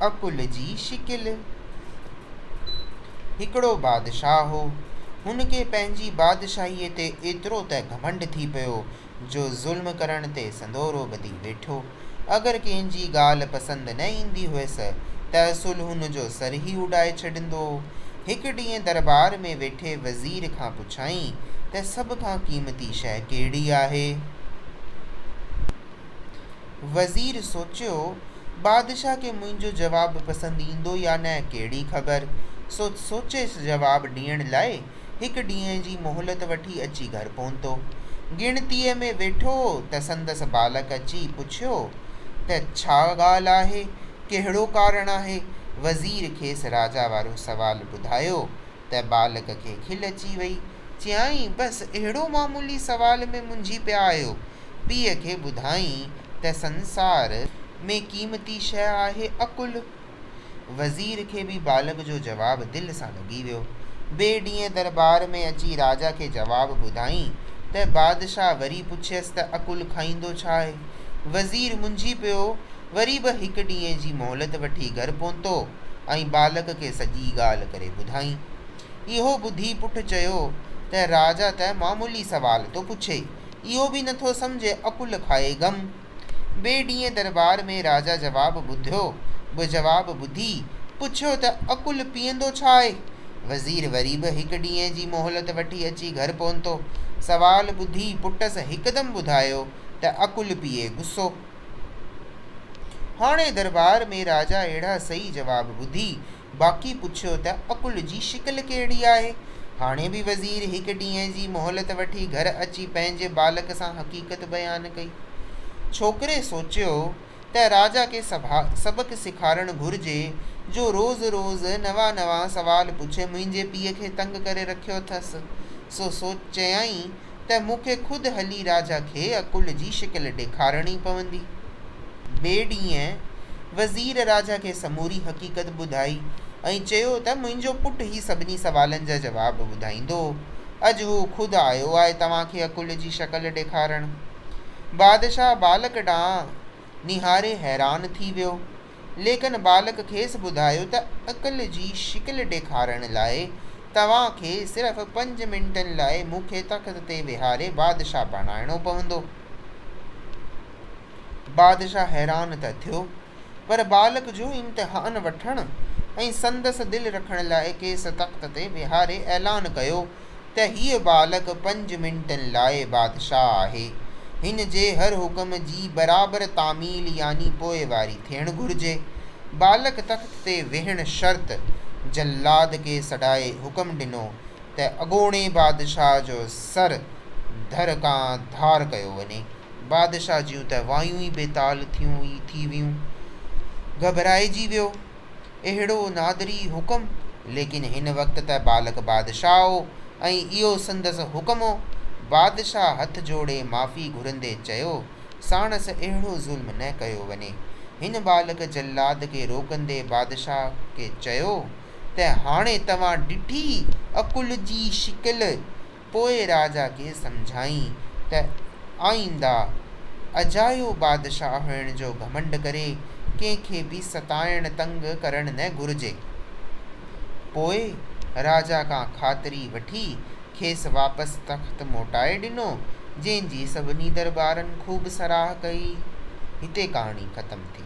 عقل جي شڪل. هڪڙو بادشاهه هو. هن کي پنهنجي بادشاهيء تي ايترو ته گهمنڊ ٿي پيو جو ظلم ڪرڻ تي سندورو ٻڌي ويٺو. اگر ڪنهن جي ڳالهه پسند نه ايندي هيس ته اصل هن جو سر ئي اڏائي ڇڏيندو هو. هڪ ڏينهن درٻار ۾ ويٺي وزير کان پڇيائين ته سڀ کان قيمتي شيء ڪهڙي آهي؟ وزير سوچيو، بادشاهه کي منهنجو جواب پسند ايندو يا نه ڪهڙي خبر، سو سوچي جواب ڏيڻ لاء هڪ ڏينهن جي مهلت وٺي اچي گهر پهتو. ڳڻتيء ۾ ويٺو هو ته سندس ٻالڪ اچي پڇيو ته ڇا ڳالهه آهي، ڪهڙو ڪارڻ آهي؟ وزير کيس راجا وارو سوال ٻڌايو. ته ٻالڪ کي کل اچي وئي. چيائين، بس اهڙو معمولي سوال ۾ منجهي پيا آهيو. پيء کي ٻڌائين ته سنسار ۾ قيمتي شيء آهي عقل. وزير کي به ٻالڪ جو جواب دل سان لڳي ويو. ٻئي ڏينهن درٻار ۾ اچي راجا کي جواب ٻڌائين ته بادشاهه وري پڇيس ته عقل کائيندو ڇا آهي؟ وزير منجهي پيو. وري به هڪ ڏينهن جي مهلت وٺي گهر پهتو ۽ ٻالڪ کي سڄي ڳالهه ڪري ٻڌائين. اهو ٻڌي پٽ چيو ته راجا ته معمولي سوال ٿو پڇي، اهو به نٿو سمجهي، عقل کائي گم. ٻئي ڏينهن درٻار ۾ راجا جواب ٻڌيو به جواب ٻڌي پڇيو ته عقل پيئندو ڇا آهي؟ وزير وري به هڪ ڏينهن جي مهلت وٺي اچي گهر پهتو. سوال ٻڌي پٽس هڪدم ٻڌايو ته عقل پيئي غصو. هاڻي درٻار ۾ راجا اهڙا صحيح جواب ٻڌي باقي پڇيو ته عقل جي شڪل ڪهڙي آهي؟ هاڻي به وزير هڪ ڏينهن جي مهلت وٺي گهر اچي پنهنجي ٻالڪ سان حقيقت بيان ڪئي. ڇوڪري سوچيو ته راجا کي سبق سيکارڻ گهرجي جو روز روز نوان نوان سوال پڇي منهنجي پيء کي تنگ ڪري رکيو اٿس. سو چيائين ته مون کي خود هلي راجا کي عقل جي شڪل ڏيکارڻي پوندي. ٻئي ڏينهن وزير راجا کي سموري حقيقت ٻڌائي ۽ چيو ته منهنجو پٽ هي سڀني سوالن جا جواب ٻڌائيندو. اڄ هو خود آيو آهي توهان کي عقل جي شڪل ڏيکارڻ. بادشاهه ٻالڪ ڏانهن نهاري حيران ٿي ويو. ليڪن ٻالڪ کيس ٻڌايو ته عقل جي شڪل ڏيکارڻ لاء توهان کي صرف پنج منٽن لاء مون کي تخت تي ويهاري بادشاهه بڻائڻو پوندو. بادشاهه حيران ته ٿيو پر ٻالڪ جو امتحان وٺڻ ۽ سندس دل رکڻ لاء کيس تخت تي ويهاري اعلان ڪيو. ته هيء ٻالڪ پنج منٽن لاء بادشاهه آهي، هن جي هر حڪم جي برابر تعميل يعني پوئواري ٿيڻ گهرجي. ٻالڪ تخت تي ويهڻ شرط جلاد کي سڏائي حڪم ڏنو ته اڳوڻي بادشاهه جو سر ڌر کان ڌار ڪيو وڃي. بادشاهه جون ته وايون ئي بيتال ٿيون ئي ٿي ويون. گهٻرائجي ويو. اهڙو نادري حڪم، ليڪن هن وقت ته بالڪ بادشاهه هو ۽ اهو سندس حڪم هو. بادشاهه هٿ جوڙي معافي گهرندي چيو، ساڻس اهڙو ظلم نه ڪيو وڃي. هن بالڪ جلاد کي روڪندي بادشاهه کي چيو ته هاڻي توهان ڏٺي عقل جي شڪل، پوء راجا کي سمجهائين ته آئينده اجايو بادشاهه هئڻ جو گهمنڊ ڪري ڪنهن کي به ستائڻ تنگ ڪرڻ نه گهرجي. پوء راجا کان خاطري وٺي کيس واپس تخت موٽائي ڏنو، جنهن جي سڀني دربارن خوب سراهه ڪئي. هتي ڪهاڻي ختم ٿي.